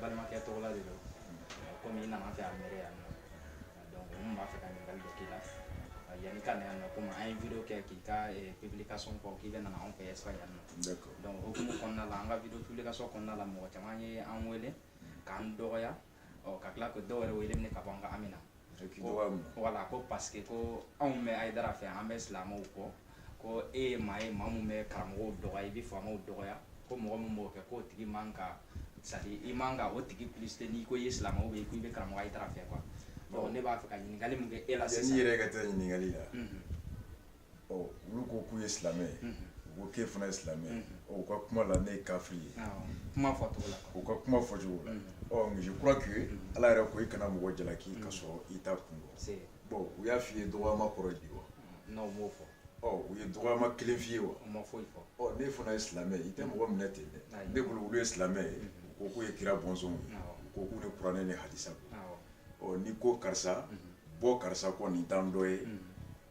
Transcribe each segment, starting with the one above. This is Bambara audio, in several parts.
balimakɛ tɔgɔ la de don komi i nana an fɛ Almeria yan nɔ donc n tun b'a fɛ ka ɲininkali dɔ k'i la yanni ka na yan nɔ komi an ye video kɛ k'i ka publication fɔ k'i bɛ nana anw fɛ Espagne yan nɔ donc hokumu kɔnɔna la an ka video publication kɔnɔna la mɔgɔ caman ye an wele k'an dɔgɔya ɔ ka tila ko dɔw yɛrɛ wele minɛ ka bɔ an ka amina voilà ko parce que ko anw bɛ ayidara fɛ an bɛ silamɛw kɔ ko e ye maa ye maa min bɛ karamɔgɔw dɔgɔya i bɛ faamaw dɔgɔya ko mɔgɔ min b'o kɛ k'o tigi man ka c'est-à-dire i man ka o tigi publicité n'i ko i ye silamɛ ou bien ko i bɛ karamɔgɔ ayidara fɛ quoi donc ne b'a fɛ ka ɲininkali min kɛ e la sisan n'i yɛrɛ ka taa ɲininkali la ɔ olu ko k'u ye silamɛ ye u ko k'e fana ye silamɛ ye ɔ u ka kuma la ne ye kafiri ye kuma fɔcogo la u ka kuma fɔcogo la ɔ mais je crois que ala yɛrɛ ko i kana mɔgɔ jalaki ka sɔrɔ i t'a kun dɔn bon u y'a f'i ye dɔgɔyama kɔrɔ ye di wa non u m'o fɔ ɔ u ye dɔgɔyama kelen f'i ye wa u ma foyi fɔ ɔ ne fana ye silamɛ ye i tɛ mɔgɔ minɛ ten dɛ ne bolo olu ye silamɛ ye u ko k'u ye kira bɔnsɔnw ye u ko k'u ni kuranɛ ni hadisa don n'i ko karisa bɔ karisa kɔ nin t'an dɔ ye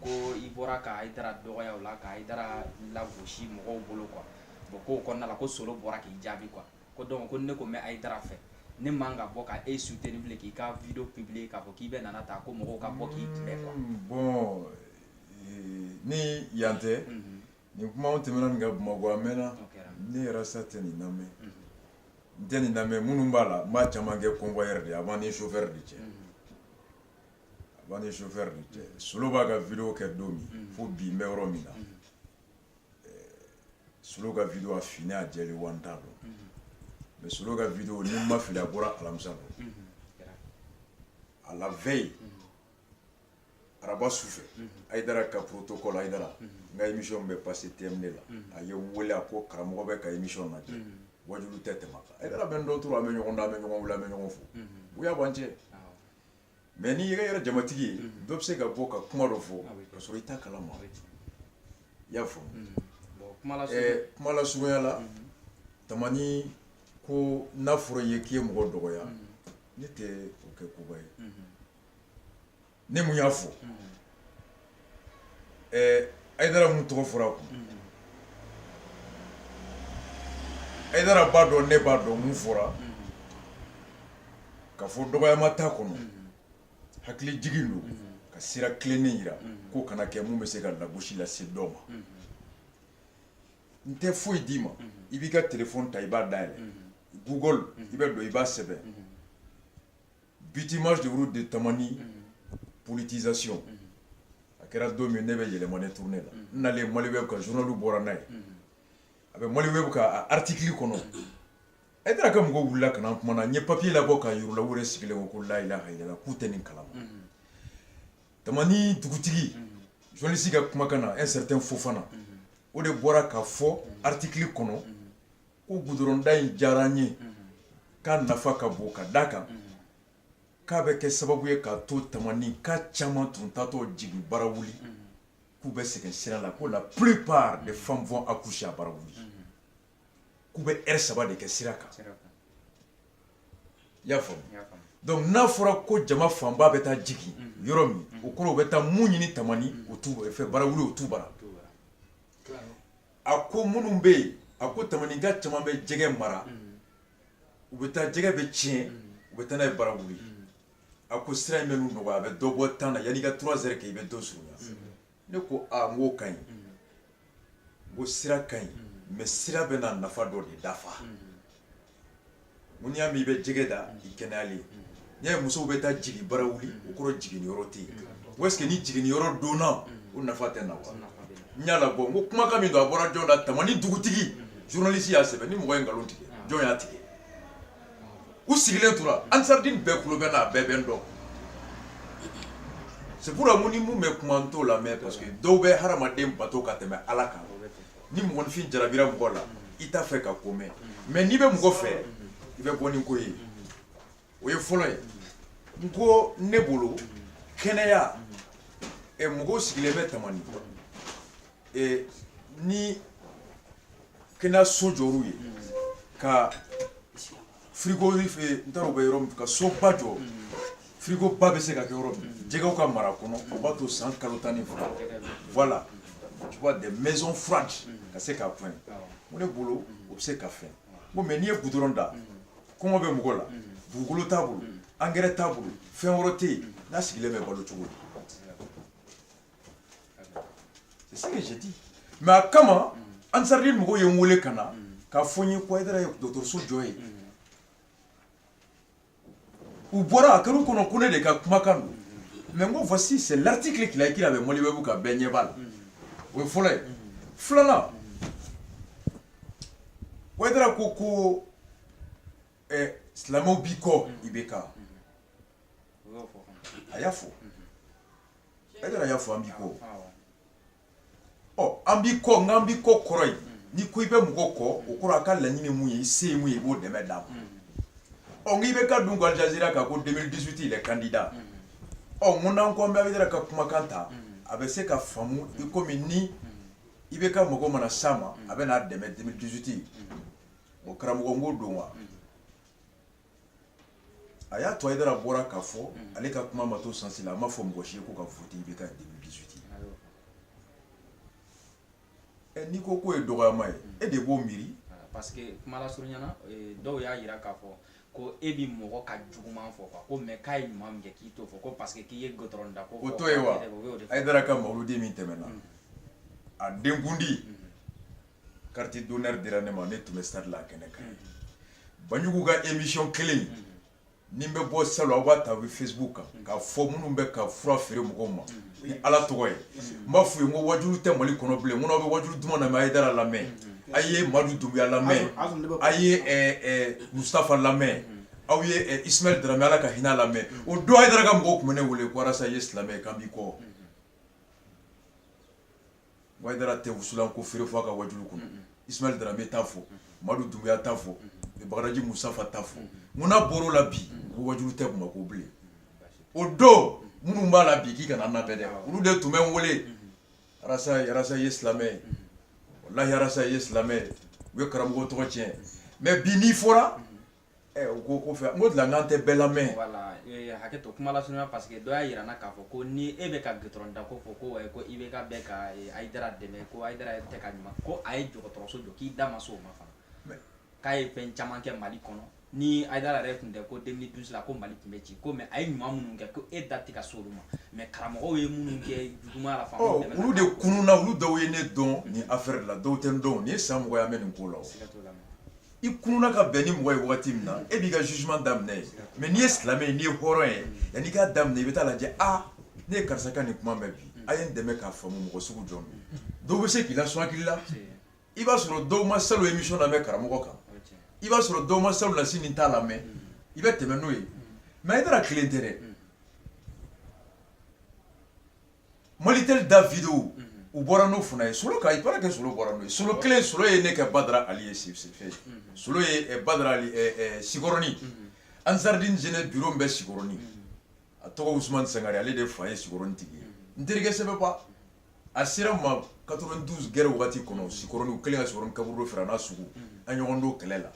ko i bɔra ka ayidara dɔgɔya o la ka ayidara lagosi mɔgɔw bolo quoi bon k'o kɔnɔna la ko solo bɔra k'i jaabi quoi ko donc ko ne ko n bɛ ayidara fɛ ne man ka bɔ k' e soutenir bilen k'i ka video publier k'a fɔ k'i bɛ nana taa ko mɔgɔw ka bɔ k'i kunbɛn quoi bon ni yan tɛ nin kuma tɛmɛna nin ka bamakɔ a mɛnna ne yɛrɛ sa tɛ nin lamɛn n tɛ nin lamɛn minnu b'a la n b'a caman kɛ convoyeur de ye a b'an ni chauffeur de cɛ B'an ni chauffeur cɛ solo b'a ka video kɛ don min fo bi n bɛ yɔrɔ min na solo ka video a fini a jɛlen wa n t'a dɔn mais solo ka video ni n ma fili a bɔra alamisa don à la veille araba su fɛ ayidara ka protocole ayidara n ka émission bɛ passer TM2 la a ye n wele a ko karamɔgɔ bɛ ka émission lajɛ waju tɛ tɛmɛ a bɛ dɔ tora an bɛ ɲɔgɔn dɔn an bɛ ɲɔgɔn wele an bɛ ɲɔgɔn fo bonya b'an cɛ Mais n'i yɛrɛ yɛrɛ jamatigi ye dɔ bɛ se ka bɔ ka kuma dɔ fɔ ka sɔrɔ i t'a kalama i y'a fɔ kuma lasurunya la tamani ko n'a fɔra i ye k'i ye mɔgɔ dɔgɔya ne tɛ o kɛ koba ye ne mun y'a fɔ ayidara mun tɔgɔ fɔra kun ayidara b'a dɔn ne b'a dɔn mun fɔra ka fɔ dɔgɔyama t'a kɔnɔ hakili jigin don ka sira tilennen yira k'o kana kɛ mun bɛ se ka lagosi lase dɔ ma n tɛ foyi d'i ma i b'i ka téléphone ta i b'a dayɛlɛ Google i bɛ don i b'a sɛbɛn Bitima juru de tamani ptizsi a kɛra don min ne bɛ yɛlɛma ne tun ne la nale mali bɛ ka zurunli bɔra n'a ye a bɛ mali bɛ ka atikili kɔnɔ e taara ka mɔgɔw wili kana tuma na n ye papi'i la bɔ ka yla wɛrɛ sigilen ko ko layila ka yɛlɛ k'u tɛ nin kala ta dugutigi jolisi ka kumakan na e sɛ tɛ fofana o de bɔra ka fɔ atikili kɔnɔ ko gudɔrɔnda in diyara n ye k'a nafa ka bon ka d'a kan k'a bɛ kɛ sababu ye k'a to Tamanika caman tun taatɔ jigin Barawuli k'u bɛ sɛgɛn sira la ko la plupart des femmes vont accoucher à Barawuli k'u bɛ heure saba de kɛ sira kan i y'a faamu donc n'a fɔra ko jama fanba bɛ taa jigin yɔrɔ min o kɔrɔ u bɛ taa mun ɲini Tamani o t'u fɛ Barawuli o t'u bara a ko minnu bɛ yen a ko Tamanika caman bɛ jɛgɛ mara u bɛ taa jɛgɛ bɛ tiɲɛ u bɛ taa n'a ye Barawuli a ko sira in bɛ n'u nɔgɔya a bɛ dɔ bɔ temps na yanni i ka trois heures kɛ i bɛ dɔ surunya ne ko aa n k'o ka ɲi n ko sira ka ɲi mais sira bɛ na nafa dɔ de dafa N'i y'a mɛn i bɛ jɛgɛ da i kɛnɛyalen n'i y'a ye musow bɛ taa jigin Barawuli o kɔrɔ jigin yɔrɔ tɛ yen wa est-ce que ni jigin yɔrɔ donna o nafa tɛ na n y'a labɔ n ko kumakan min don a bɔra jɔn da Tamani dugutigi journaliste y'a sɛbɛn ni mɔgɔ ye nkalon tigɛ jɔn y'a tigɛ u sigilen tora Ansardine bɛɛ tulo bɛ n na bɛɛ bɛ n dɔn c'est pourquoi ni minnu bɛ kuma n t'o lamɛn parce que dɔw bɛ hadamaden bato ka tɛmɛ Ala kan ni mɔgɔninfin jarabira mɔgɔ la i t'a fɛ ka ko mɛn mais n'i bɛ mɔgɔ fɛ i bɛ bɔ ni ko ye o ye fɔlɔ ye n ko ne bolo kɛnɛya eh, mɔgɔw sigilen bɛ Tamani eh, ni kɛnɛyaso jɔr'u ye ka frigo n taara u bɛ yɔrɔ min ka soba jɔ frigo ba bɛ se ka kɛ yɔrɔ min jɛgɛw ka mara kɔnɔ o b'a to san kalo tan ni fila voilà tu vois des maisons fraîches ka se k'a fɛn ko ne bolo o bɛ se ka fɛn ko mais n'i ye goudron da kɔngɔ bɛ mɔgɔ la dugukolo t'a bolo angɛrɛ t'a bolo fɛn wɛrɛ tɛ yen n'a sigilen bɛ balo cogo di C'est ce que j'ai dit. Mais a kama Ansardine mɔgɔw ye n wele ka na k'a fɔ n ye ko Ayidara ye dɔgɔtɔrɔso jɔ yen u bɔra a kɛr'u kɔnɔ ko ne de ka kumakan don mais n ko voici c'est l'article qu'il a écrit avec Maliweb ka bɛɛ ɲɛ b'a la o ye fɔlɔ ye filanan Ayidara ko ko eh, silamɛw b'i kɔ IBK a y'a fɔ Haidara y'a fɔ an b'i kɔ ɔ an b'i kɔ n an b'i kɔ kɔrɔ ye ni ko i bɛ mɔgɔ kɔ o kɔrɔ a ka laɲini mun ye i se ye mun ye i b'o dɛmɛ d'a ma ɔ n'IBK dun ko Al Jazeera kan ko deux mille dix-huit il est candidat ɔ n ko n'an ko an bɛ Haidara ka kumakan ta a bɛ se ka faamu i komi ni IBK mago mana s'a ma a bɛ n'a dɛmɛ deux mille dix-huit o karamɔgɔ n ko don wa a y'a to Haidara bɔra k'a fɔ mm. ale ka kuma ma to sansi la a ma fɔ mɔgɔ si ye ko ka voter IBK deux mille dix-huit n'i ko k'o ye dɔgɔyama ye mm. e de b'o miiri parce que kuma lasurunya na eh, dɔw y'a yira k'a fɔ ko e bi mɔgɔ ka juguman fɔ quoi ko mais k'a ye ɲuman min kɛ k'i t'o fɔ ko parce que k'i ye goudron da ko o to ye wa Haidara ka mawuludi min tɛmɛna mm. a denkundi carte d'honneur dira ne ma ne tun bɛ stade la kɛnɛ kan banjugu ka émission kelen ni bɛ bɔ salon aw b'a ta u bɛ Facebook kan k'a fɔ minnu bɛ ka fura feere mɔgɔw ma ni ala tɔgɔ ye n b'a f'u ye n ko wajulu tɛ mali kɔnɔ bilen n ko n'aw bɛ wajulu duman lamɛn Haidara lamɛn a ye Madu Dunbiya lamɛn a ye mustafa lamɛn aw ye Ismayɛl Darame ala ka hinɛ lamɛn o don Haidara ka mɔgɔw tun bɛ ne wele ko Arasa ye silamɛ ye k'an b'i kɔ Haidara tɛ wusulan ko feere fɔ a ka wajulu kɔnɔ, unhun, Ismayɛl Darame t'a fɔ, unhun, Madu Dunbiya t'a fɔ, unhun, Bagadaji Mustafa t'a fɔ, unhun, n'a bɔra o la bi ko wajulu tɛ Bamako bilen, o don minnu b'a la bi k'i kana an lamɛn dɛ, olu de tun bɛ n wele, Arasa ye silamɛ ye, walahi Arasa ye silamɛ ye, u ye karamɔgɔ tɔgɔ tiɲɛ mais bi n'i fɔra U ko ko fɛ ko dilan k'an tɛ bɛɛ lamɛn hakɛ to kuma lasurunya parce que dɔ y'a jira k'a fɔ ko ni e bɛ ka goudron da ko fɔ ko IBK bɛ ka Haidara dɛmɛ ko a tɛ ka ɲuman ko a ye dɔgɔtɔrɔso jɔ k'i da ma se o ma fana k'a ye fɛn caman kɛ mali kɔnɔ ni Haidara yɛrɛ tun tɛ ko deux mille douze la ko mali tun bɛ ci ko mais a ye ɲuman minnu kɛ ko e da tɛ ka s'olu ma mais karamɔgɔ ye minnu kɛ juguman la fana olu de kununa olu dɔw ye ne dɔn nin affaire la dɔw tɛ n dɔn nin ye san mugan ye n bɛ nin ko la i kununa ka bɛn ni mɔgɔ ye wagati min na e b'i ka jugement daminɛ yen mais n'i ye silamɛ ye n'i ye hɔrɔn ye yanni i k'a daminɛ i bɛ taa lajɛ a ah, ne ye karisa ka nin kuma mɛn bi a ye n dɛmɛ k'a faamu mɔgɔ sugu jɔn don dɔw bɛ se k'i lasɔn hakili la i b'a sɔrɔ dɔw ma salon émission lamɛn karamɔgɔ kan i b'a sɔrɔ dɔw ma salonnasini ta lamɛn i bɛ tɛmɛ n'o ye mais Haidara kelen tɛ dɛ Mali tɛ da fi u bɔra n'o fana ye solo kɛ solo kelen solo ye ne kɛ badara ali ye si sikɔrɔnin ansariden j bi bɛ sikɔrɔnin a tɔgɔ sangare ale de fa ye sikɔrɔn tigi ye n terikɛ sɛbɛnba a sera ma ka du gɛrɛ waati kɔnɔ si kelen ka kaburu fɛ n' sugu a ɲɔgɔn don kɛlɛ la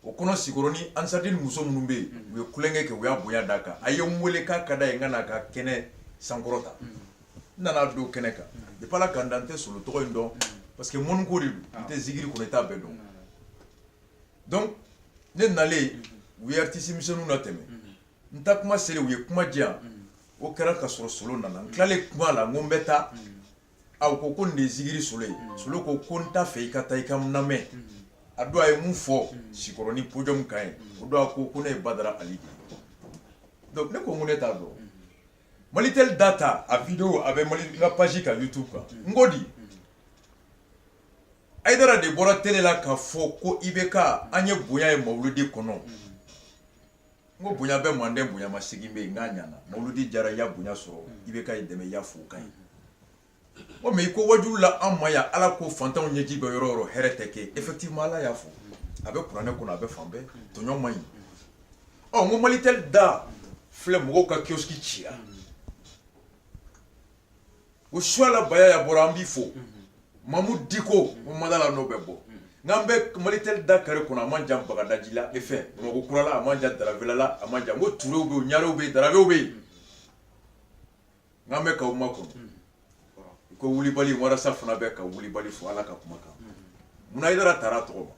o kɔnɔ sikɔrɔni ansardine muso minnu bɛ yen u ye kukɛ kɛ u y'a bonya d'a kan a ye n weele k'a ka d'a ye n ka n'a ka kɛnɛ sankɔrɔta n nana don kɛnɛ kan depuis ala ka n da n tɛ solo tɔgɔ in dɔn parce que munko de n'i tɛ zikiri kɔnɔ i t'a bɛɛ dɔn donc ne nalen u ye artiste misɛnw latɛmɛ n ta kuma selen u ye kuma di yan o kɛra ka sɔrɔ solo nana n tilalen kuma la n ko n bɛ taa u ko ko nin de ye zikiri solo ye solo ko ko n t'a fɛ i ka taa i ka n lamɛn a don a ye mun fɔ sikɔrɔni podium kan yen o don a ko ko ne ye badara ali de ye donc ne ko n ko ne t'a dɔn malitel da ta a video a bɛ mali n ka page kan youtube kan n ko di ayidara de bɔra tele la k'a fɔ ko ibk an ye bonya ye mawuludi kɔnɔ n ko bonya bɛ mande bonya masegin bɛ yen nka a ɲana mawuludi diyara i ye bonya sɔrɔ ibk y'i dɛmɛ i y'a fo o ka ɲi o mais i ko waajulila an ma ya ala ko fantanw ɲɛji bɛ yɔrɔ yɔrɔ hɛrɛ tɛ kɛ effectivement ala y'a fɔ a bɛ kuranɛ kɔnɔ a bɛ fan bɛɛ tɔɲɔ man ɲi ɔ n ko malitel da filɛ mɔgɔw ka kiosque cira o suala bayaya bɔra an b'i fo mamu diko o madala n'o bɛ bɔ n'an bɛ malitɛli da kare kɔnɔ a man jan bagadaji la e fɛn bamakɔ kura la a man jan daravela la a man jan ko turew bɛ yen ɲarew bɛ yen darabew bɛ yen n'an bɛ k'aw makɔnɔ ko wulibali walasa fana bɛɛ ka wulibali fɔ ala ka kuma kan munna ayidara tara tɔgɔ ma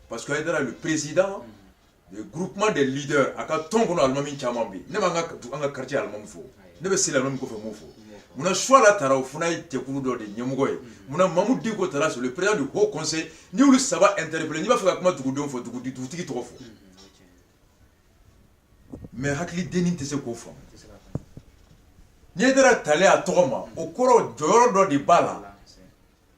parce que ayidara le président du groupement des leaders a ka tɔn kɔnɔ alimami caman bɛ yen ne b'an ka an ka quartier alimami fo ne bɛ seli alimami kɔfɛ n b'o fo munna suala tara o fana ye jɛkulu dɔ de ɲɛmɔgɔ ye munna mamu diko tara c'est le président du haut conseil n y'olu saba interpellé n'i b'a fɛ ka kuma dugudenw fɛ dugudi dugutigi tɔgɔ fɔ mais hakili dennin tɛ se k'o faamu ni ayidara talen a tɔgɔ ma o kɔrɔ jɔyɔrɔ dɔ de b'a la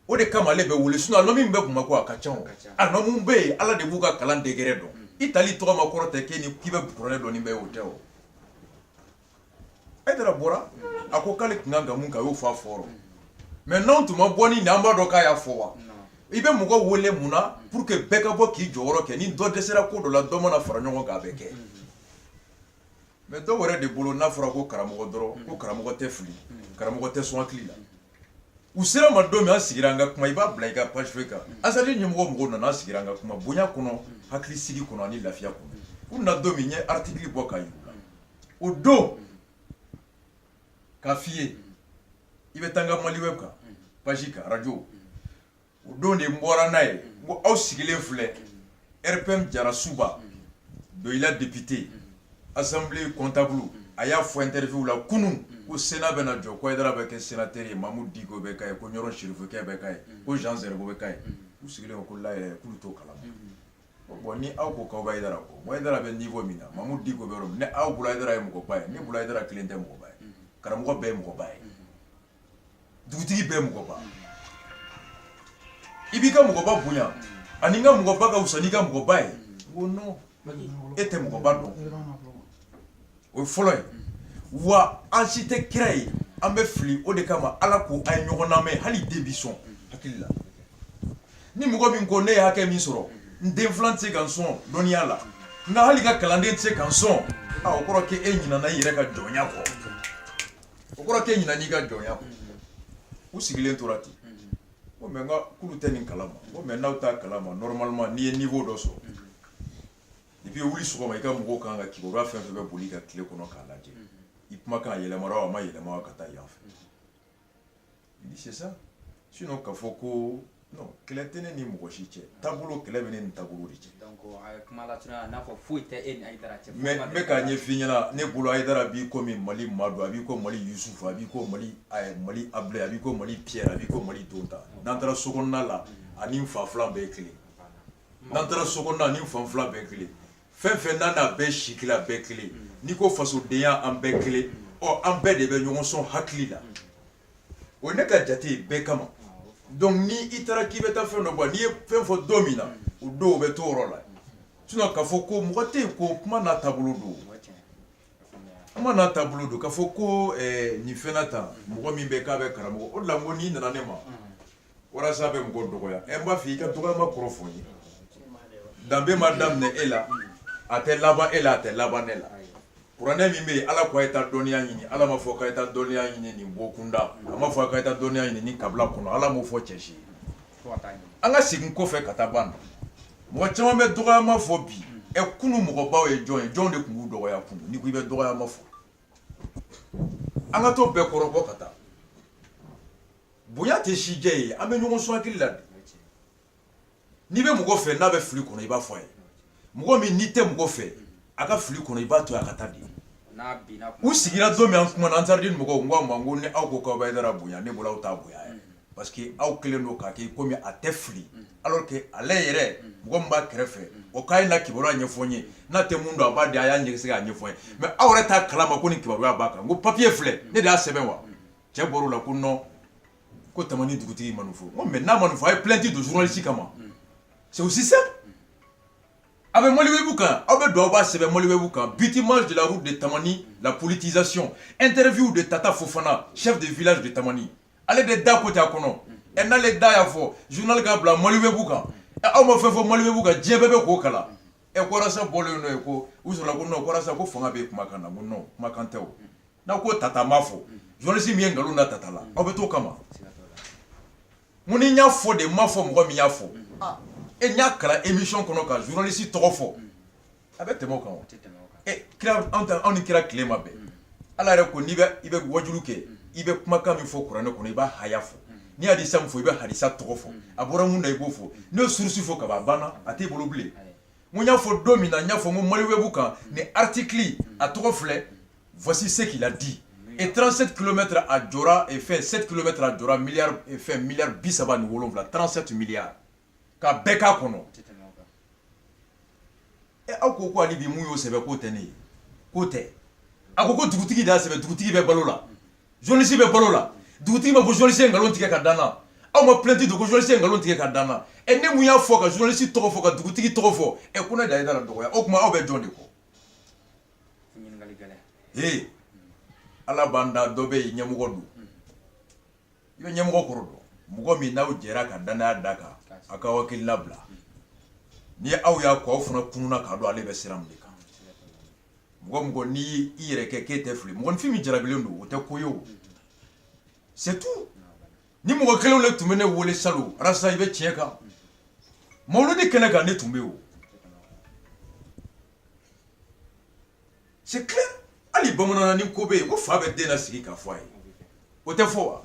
o de kama ale bɛ wele sinon alimami min bɛ bamakɔ a ka ca alimami bɛ yen ala de b'u ka kalan degré dɔn i tali tɔgɔ ma kɔrɔ tɛ k'i k'i bɛ kuranɛ dɔn ni bɛɛ o tɛ o ayidara bɔra a ko k'ale tun ka kan ka min kɛ a y'o fɔ a fɔra mais n'an tun ma bɔ ni nin an b'a dɔn k'a y'a fɔ wa i bɛ mɔgɔ wele mun na pour que bɛɛ ka bɔ k'i jɔyɔrɔ kɛ ni dɔ dɛsɛra ko dɔ la dɔ mana fara ɲɔgɔn kan a bɛ kɛ mais dɔw yɛrɛ de bolo n'a fɔra ko karamɔgɔ dɔrɔn ko karamɔgɔ tɛ fili karamɔgɔ tɛ sɔn hakili la u sera ma don min an sigira an ka kuma i b'a bila i ka page feuille kan azali ɲɛmɔgɔ mɔgɔw nana an sigira an ka kuma bonya kɔnɔ hakili sigi kɔnɔ ani lafiya kɔnɔ u nana don min n ye article bɔ k'a yir'u la o don k'a f'i ye i bɛ taa n ka maliweb kan page kan radio o don de n bɔra n'a ye n ko aw sigilen filɛ rpm jarasuba doyila depite assemblée comptable a y'a fɔ interview la kunun ko sena bɛna jɔ ko ayidara bɛ kɛ senatɛri ye mamu diko bɛ k'a ye ko ɲɔrɔ sirifukɛ bɛ k'a ye ko jean zɛrɛbo bɛ k'a ye u sigilen ko la yɛrɛ k'u t'o kalama bon ni aw ko k'aw b'ayidara kɔ ayidara bɛ niveau min na mamu diko bɛ yɔrɔ min ni aw bolo ayidara ye mɔgɔba ye ne bolo ayidara kelen tɛ mɔgɔba ye karamɔgɔ bɛɛ ye mɔgɔba ye dugutigi bɛɛ mɔgɔba i b'i ka mɔgɔba bonya ani n ka mɔgɔba ka wusa n'i ka mɔgɔba ye ko non e tɛ mɔgɔba dɔn o ye fɔlɔ ye wa an si tɛ kira ye an bɛ fili o de kama ala ko a ye ɲɔgɔn lamɛn hali den b'i sɔn hakili la ni mɔgɔ min ko ne ye hakɛ min sɔrɔ n den filan tɛ se ka n sɔn dɔnniya la n ka hali n ka kalanden tɛ se ka n sɔn a o kɔrɔ k'e ɲinana i yɛrɛ ka jɔnya kɔ O kɔrɔ k'e ɲinana i ka jɔnya kɔ u sigilen tora ten ko mais a k'olu tɛ nin kalama ko mais n'aw t'a kalama normalement n'i ye niveau dɔ sɔrɔ depuis wuli sɔgɔma i ka mɔgɔw kan ka kibaruya fɛn fɛn bɛ boli i ka tile kɔnɔ k'a lajɛ i kumakan a yɛlɛmara a ma yɛlɛma ka taa yan fɛ Il dit c'est ça. Sinon k'a fɔ ko non kɛlɛ tɛ ne ni mɔgɔ si cɛ taabolo kɛlɛ bɛ ne ni taabolo de cɛ. Donc a ye kuma lasurunya n'a fɔ foyi tɛ e ni Ayidara cɛ. Mais n bɛ k'a ɲɛf'i ɲɛna ne bolo Ayidara b'i komi Mali Madu a b'i ko Mali Yusufu a b'i ko Mali ɛɛ Mali Abulayi a b'i ko Mali Pierre a b'i ko Mali Tontan n'an taara sokɔnɔna la a ni n fa filan bɛɛ ye kelen ye n'an taara sokɔnɔna a ni n fa filan bɛɛ ye kelen ye fɛn fɛn n'a n'a bɛɛ si kelen a bɛɛ kelen n'i ko fasodenya an bɛɛ kelen ɔ an bɛɛ de bɛ ɲɔgɔn sɔn hakili la o ne ka jate ye bɛɛ kama donc ni i taara k'i bɛ taa fɛn dɔ bɔ n'i ye fɛn fɔ don min na o don o bɛ to o yɔrɔ la sinon k'a fɔ ko mɔgɔ tɛ yen ko kuma n'a taabolo don kuma n'a taabolo don k'a fɔ ko ɛɛ nin fɛn na tan mɔgɔ min bɛ k'a bɛ karamɔgɔ o de la n ko n'i nana ne ma walasa a bɛ mɔgɔ dɔgɔya n b'a fɔ i ka dɔgɔma kɔrɔ fɔ n ye danbe ma daminɛ e la a tɛ laban e la a tɛ laban ne la kuranɛ min bɛ yen ala ko a ye taa dɔnniya ɲini ala m'a fɔ k'a ye taa dɔnniya ɲini nin bɔ kunda a m'a fɔ k'a ye taa dɔnniya ɲini nin kabila kɔnɔ ala m'o fɔ cɛ si ye an ka segin kɔfɛ ka taa ban mɔgɔ caman bɛ dɔgɔma fɔ bi ɛ kunun mɔgɔbaw ye jɔn ye jɔn de tun b'u dɔgɔya kunun n'i ko i bɛ dɔgɔma fɔ an ka to bɛɛ kɔrɔbɔ ka taa bonya tɛ sijɛ ye an bɛ ɲɔgɔn sɔn hakili la n'i bɛ mɔgɔ fɛ n'a bɛ fili kɔnɔ i b'a fɔ a ye mɔgɔ min n'i tɛ mɔgɔ fɛ a ka fili kɔnɔ i b'a to a ka taa di u sigira don min an kumana an taara di mɔgɔw n ko a ma n ko ni aw ko k'aw bɛ ayidara bonya ne bolo aw t'a bonya yɛrɛ parce que aw kɛlen don k'a kɛ komi a tɛ fili alors que ale yɛrɛ mɔgɔ min b'a kɛrɛfɛ o k'a ye na kibaruya ɲɛfɔ n ye n'a tɛ mun dɔn a b'a di a y'a ɲɛsigi k'a ɲɛfɔ n ye mais aw yɛrɛ t'a kalama ko nin kibaruya b'a kan n ko papiye filɛ ne de y'a sɛbɛn wa cɛ bɔr'o la ko non ko tamani dugutigi ma nin fɔ n ko mais n'a ma nin fɔ a ye plainte don journaliste kama c'est aussi ça a bɛ maliwɛbu kan aw bɛ don aw b'a sɛbɛn maliwɛbu kan bitumage de la route de tamani la politisation interview de tata fofana chef de village de tamani ale de da ko ca kɔnɔ ɛ n'ale da y'a fɔ journal k'a bila maliwɛbu kan ɛ aw ma fɛn fɔ maliwɛbu kan diɲɛ bɛɛ bɛ k'o kalan ɛ arasa bɔlen n'o ye ko u sɔrɔ ko ko fanga bɛ kumakan na ko kumakan tɛ n'aw ko tata m'a fɔ journaliste min ye nkalon da tata la aw bɛ t'o kama n ko ni n y'a fɔ de n m'a fɔ mɔgɔ min y'a fɔ e n y'a kalan émission kɔnɔ ka journaliste tɔgɔ fɔ a bɛ tɛmɛ o kan wa e kira anw ta anw ni kira tile ma bɛn ala yɛrɛ ko n'i bɛ i bɛ wajulu kɛ i bɛ kumakan min fɔ kuranɛ kɔnɔ i b'a haya fɔ n'i ye hadisa min fɔ i bɛ hadisa tɔgɔ fɔ a bɔra mun na i b'o fɔ n'i ye source fɔ kaban a banna a t'i bolo bilen n ko n y'a fɔ don min na n y'a fɔ n ko maliwɛbu kan nin article a tɔgɔ filɛ Voici ce qu'il a dit et 37 kilomètres a jɔra et fɛn 7 kilomètres a jɔra milliard et fɛn milliard 37 37 milliards k'a bɛɛ k'a kɔnɔ ɛ aw ko ko hali bi min y'o sɛbɛn k'o tɛ ne ye k'o tɛ a ko ko dugutigi de y'a sɛbɛn dugutigi bɛ balo la journaliste bɛ balo la dugutigi ma ko journaliste ye nkalon tigɛ k'a da n na aw ma plainte don ko journaliste ye nkalon tigɛ k'a da n na ɛ ne min y'a fɔ ka journaliste tɔgɔ fɔ ka dugutigi tɔgɔ fɔ ɛ ko ne de ye haidara dɔgɔya o tuma aw bɛ jɔn de kɔ ee ala b'an da dɔ bɛ yen ɲɛmɔgɔ don i bɛ ɲɛmɔgɔ kɔrɔ dɔn mɔgɔ min n'aw jɛra ka dannaya d'a kan a ka hakilina bila ni aw y'a kɔ aw fana kununna k'a dɔn ale bɛ sira min de kan mɔgɔ o mɔgɔ n'i i yɛrɛ kɛ k'e tɛ fili mɔgɔninfin min jarabilen don o tɛ ko ye o c'est tout nin mɔgɔ kelenw de tun bɛ ne wele salon arasa i bɛ tiɲɛ kan mawuludi kɛnɛ kan ne tun bɛ yen o C'est clair hali bamananna nin ko bɛ yen ko fa bɛ den nasigi k'a fɔ a ye o tɛ fɔ wa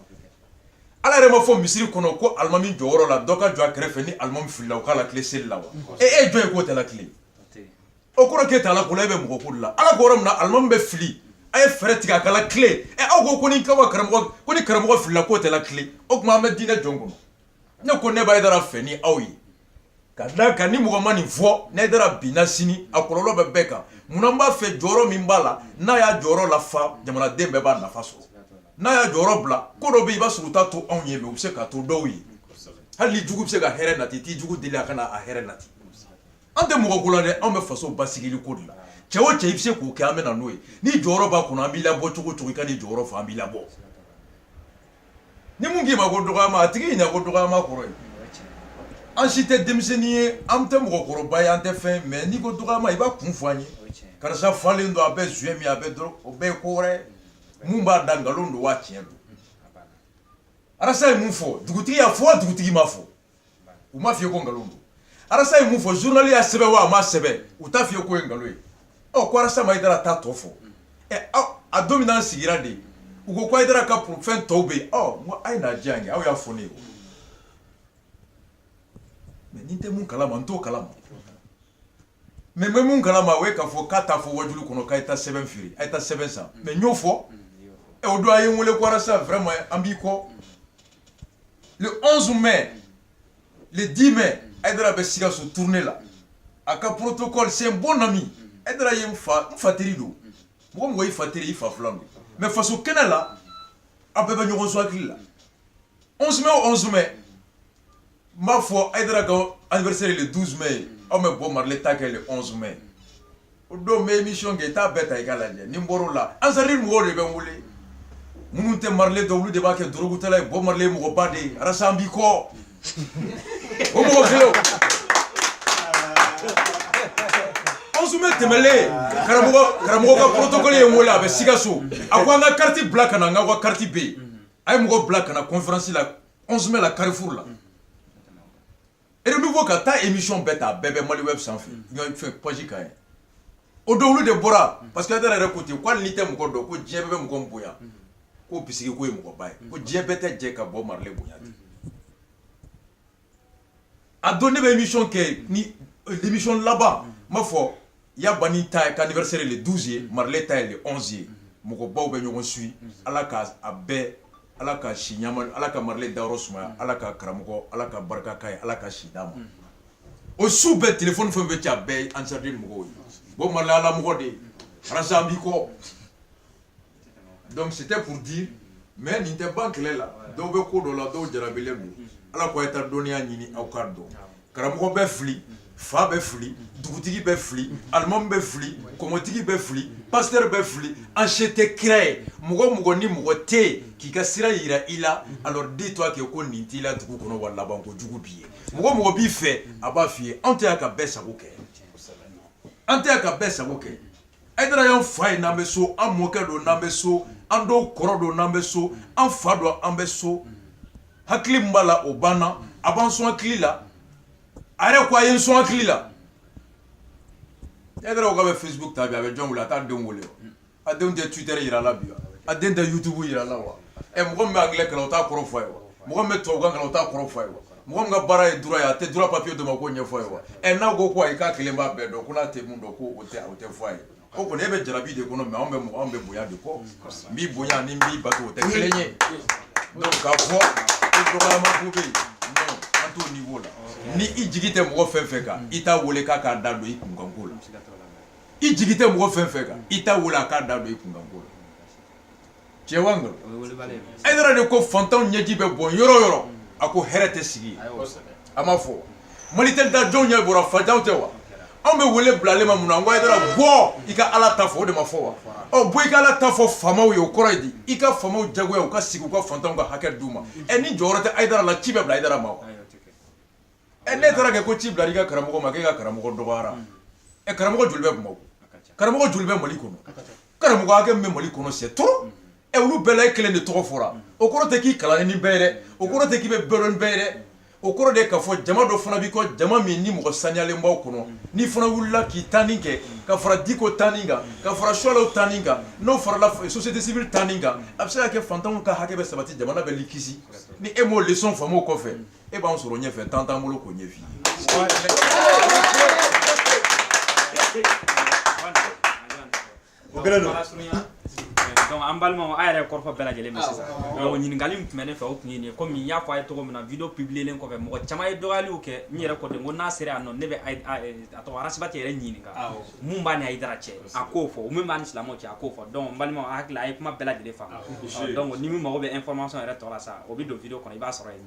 ala yɛrɛ m'a fɔ misiri kɔnɔ ko alimami jɔyɔrɔ la dɔ ka jɔ a kɛrɛfɛ ni alimami filila u k'a latilen seli la wa e e jɔn ye k'o tɛ latilen o kɔrɔ k'e t'ala ko la e bɛ mɔgɔ ko de la ala ko yɔrɔ min na alimami bɛ fili a ye fɛɛrɛ tigɛ a ka latilen ɛ aw ko ko ni kaba karamɔgɔ ko ni karamɔgɔ filila k'o tɛ latilen o tuma an bɛ diinɛ jɔn kɔnɔ ne ko ne bɛ haidara fɛ ni aw ye k'a d'a kan ni mɔgɔ ma nin fɔ ni haidara binna sini a kɔlɔlɔ bɛ bɛɛ kan munna n b'a fɛ jɔyɔrɔ min b'a la n'a y'a jɔyɔrɔ lafa jamanaden bɛɛ b'a nafa sɔrɔ n'a y'a jɔyɔrɔ bila ko dɔ bɛ yen i b'a sɔrɔ u t'a to anw ye u bɛ se k'a to dɔw ye hali n'i jugu bɛ se ka hɛrɛ nati i jugu deli a ka na hɛrɛ nati an tɛ mɔgɔ ko la dɛ anw bɛ faso basigili ko de la cɛ o cɛ i bɛ se k'o kɛ an bɛ na n'o ye n'i jɔyɔrɔ b'a kɔnɔ an b'i labɔ cogo o cogo i ka n'i jɔyɔrɔ fɔ an b'i labɔ Ni min k'i ma ko dɔgɔyama a tigi ɲɛ na ko dɔgɔyama kɔrɔ ye an si tɛ denmisɛnnin ye an tɛ mɔgɔkɔrɔba ye an tɛ fɛn mɛ n'i ko dɔgɔyama i b'a kun fɔ an ye k'arasa falen don a bɛ joint min a bɛ o bɛɛ ye ko wɛrɛ min b'a da nkalon don waa tiɲɛ don arasa ye min fɔ dugutigi y'a fɔ dugutigi m'a fɔ u m'a f'i ye ko nkalon don arasa ye mun fɔ journal y'a sɛbɛn wa a ma sɛbɛn u t'a f'i ye ko o ye nkalon ye ɔ ko arasa ma Haïdara ta tɔ fɔ a don min na an sigira de u ko ko Haïdara ka poro fɛn tɔw bɛ yen ɔ a ye n'a di yan kɛ aw y'a fɔ ne ye mais ni n tɛ mun kala ma n t'o kala ma mais n bɛ mun kala ma o ye k'a fɔ ka taa a fɔ wajulu kɔnɔ k'a ye taa sɛbɛn feere a ye taa sɛbɛn san mais n y'o fɔ ɛ o don a ye n weele ko arasa vraiment an b'i kɔ le 11 mai le 10 mai Haïdara bɛ Sikaso tournée la a ka protocole c'est un bon ami Haïdara ye n fa n fa teri don mɔgɔ mɔgɔ i fa teri i fa filan don mais faso kɛnɛ la an bɛɛ bɛ ɲɔgɔn sɔn hakili la 11 mai o 11 mai n b'a fɔ Haïdara ka anniversaire le 12 mai aw bɛ Bob Marley ta kɛ 11 mai o don n bɛ émission kɛ i t'a bɛɛ ta i k'a lajɛ ni n bɔr'o la Ansarudine mɔgɔw de bɛ n wele minnu tɛ Marley dɔn olu de b'a kɛ dɔrɔgutala ye Bob Marley mɔgɔba de ye arasa an b'i kɔ o mɔgɔ kelen 11 mai tɛmɛlen karamɔgɔ karamɔgɔ ka protocole ye n wele a bɛ Sikaso a ko an ka carte bila ka na n ka ka carte bɛ yen a ye mɔgɔ bila ka na conférence la 11 mai la Carrefour la Renouveau ka taa émission bɛɛ ta a bɛɛ bɛ Maliweb sanfɛ fɛn page kan yen o don olu de bɔra parce que Haïdara yɛrɛ ko ten ko hali n'i tɛ mɔgɔ dɔn ko diɲɛ bɛɛ bɛ mɔgɔ bonya ko o bisigi ko o ye mɔgɔba ye ko diɲɛ bɛɛ tɛ jɛ ka Bob Marley bonya a don ne bɛ émission kɛ ni émission laban n b'a fɔ ya Bani ta ka anniversaire ye le 12 ye Marley ta ye le 11 ye mɔgɔbaw bɛ ɲɔgɔn suit Ala ka a bɛɛ Ala ka si ɲɛnama di Ala ka Marley dayɔrɔ sumaya Ala ka karamɔgɔ Ala ka barika k'a ye Ala ka si d'a ma o su bɛɛ téléphone fɛn o fɛn bɛ ci a bɛɛ ye Ansarudine mɔgɔw ye Bob Marley Ala mɔgɔ de ye arasa an b'i kɔ donc c'était pour dire mais nin tɛ ban kɛlɛ la dɔw bɛ ko dɔ la dɔw jarabilen don ala ko a ye taa dɔnniya ɲini aw ka dɔn karamɔgɔ bɛ fili fa bɛ fili dugutigi bɛ fili alimamu bɛ fili kɔmɔtigi bɛ fili pasitɛri bɛ fili an si tɛ kira ye mɔgɔ mɔgɔ ni mɔgɔ tɛ yen k'i ka sira yira i la alors dis toi que ko nin t'i la dugu kɔnɔ wa laban ko jugu b'i ye mɔgɔ mɔgɔ b'i fɛ a b'a f'i ye anw tɛ yan ka bɛɛ sago kɛ an tɛ yan ka bɛɛ sago kɛ ayidara y'an fa ye n'an bɛ so an mɔkɛ don n'an bɛ so an dɔw kɔrɔ don n'an bɛ so an fa don an bɛ so hakili min b'a la o banna a b'an sɔn hakili la a yɛrɛ ko a ye n sɔn hakili la ayidara ko k'a bɛ facebook ta bi a bɛ jɔn wele a t'a denw wele a denw tɛ twitter yira la bi a den tɛ youtube yira la wa ɛ mɔgɔ min bɛ anglais kalan o t'a kɔrɔ fɔ a ye wa mɔgɔ min bɛ tubabukan kalan o t'a kɔrɔ fɔ a ye wa mɔgɔ min ka baara ye droit ye a tɛ droit papier d'o ma k'o ɲɛfɔ a ye wa ɛ n'a ko ko ayi k'a kelen b'a bɛɛ dɔn ko n'a tɛ mun dɔn ko o tɛ o tɛ fɔ a ye o kɔni e bɛ jarabi de kɔnɔ mais anw bɛ mɔgɔ anw bɛ bonya de kɔ n b'i bonya ni n b'i bato o tɛ kelen ye donc k'a fɔ ko dɔgɔyama ko bɛ yen non an t'o niveau la ni i jigi tɛ mɔgɔ fɛn fɛn kan i t'a wele k'a k'a da don i kunkanko la i jigi tɛ mɔgɔ fɛn fɛn kan i t'a wele a k'a da don i kunkanko la tiɲɛ wa nkalon o ye wulibali ye ayidara de ko fantanw ɲɛji bɛ bɔn yɔrɔ o yɔrɔ a ko hɛrɛ tɛ sigi yen a y'o sɛbɛn a ma fɔ mali tɛ da jɔnw ɲɛ bɔra fantanw tɛ wa anw bɛ wele bila ale ma mun na n ko ayidara bɔ i ka ala ta fɔ o de ma fɔ wa ɔ bɔ i ka ala ta fɔ faamaw ye o kɔrɔ ye di i ka faamaw jagoya u ka sigi u ka fantanw ka hakɛ d'u ma ɛ ni jɔyɔrɔ tɛ ayidara la ci bɛ bila ayidara ma wa ayi o tɛ kɛ ɛ ne taara kɛ ko ci bila i ka karamɔgɔ ma k'e ka karamɔgɔ dɔgɔyara ɛ karamɔgɔ joli bɛ Bamakɔ karamɔgɔ joli bɛ Mali kɔnɔ karamɔgɔ hakɛ min bɛ Mali kɔnɔ c'est trop ɛ olu bɛɛ la e kelen de tɔgɔ fɔra o kɔrɔ tɛ k'i kalannen ni bɛɛ ye dɛ o kɔrɔ tɛ k'i bɛ bɛɛ dɔn ni bɛɛ ye dɛ o kɔrɔ de ye k'a fɔ jama dɔ fana b'i kɔ jama min ni mɔgɔ saniyalen b'a kɔnɔ n'i fana wulila k'i tanin kɛ ka fara Diko tanin kan ka fara Suwalaw tanin kan n'o farala société civile tanin kan a bɛ se ka kɛ fantanw ka hakɛ bɛ sabati jamana bɛ kisi ni e m'o leçon faamu o kɔfɛ e b'an sɔrɔ ɲɛfɛ temps t'an bolo k'o ɲɛf'i ye o kɛlen don donc an balimaw a ye kɔrɔfɔ bɛɛ lajɛlen mɛn sisan donc ɲininkali min tun bɛ ne fɛ o tun ye nin ye komi n y'a fɔ a ye cogo min na video publielen kɔfɛ mɔgɔ caman ye dɔgɔyaliw kɛ n yɛrɛ kɔden ko n'a sera yan nɔ ne bɛ a tɔgɔ arasibati yɛrɛ ɲininka mun b'a ni ayidara cɛ a k'o fɔ o min b'a ni silamɛw cɛ a k'o fɔ donc n balimaw a hakili a ye kuma bɛɛ lajɛlen faamu donc ni min mago bɛ information yɛrɛ tɔ la sa o bɛ don video kɔnɔ i b'a sɔrɔ yen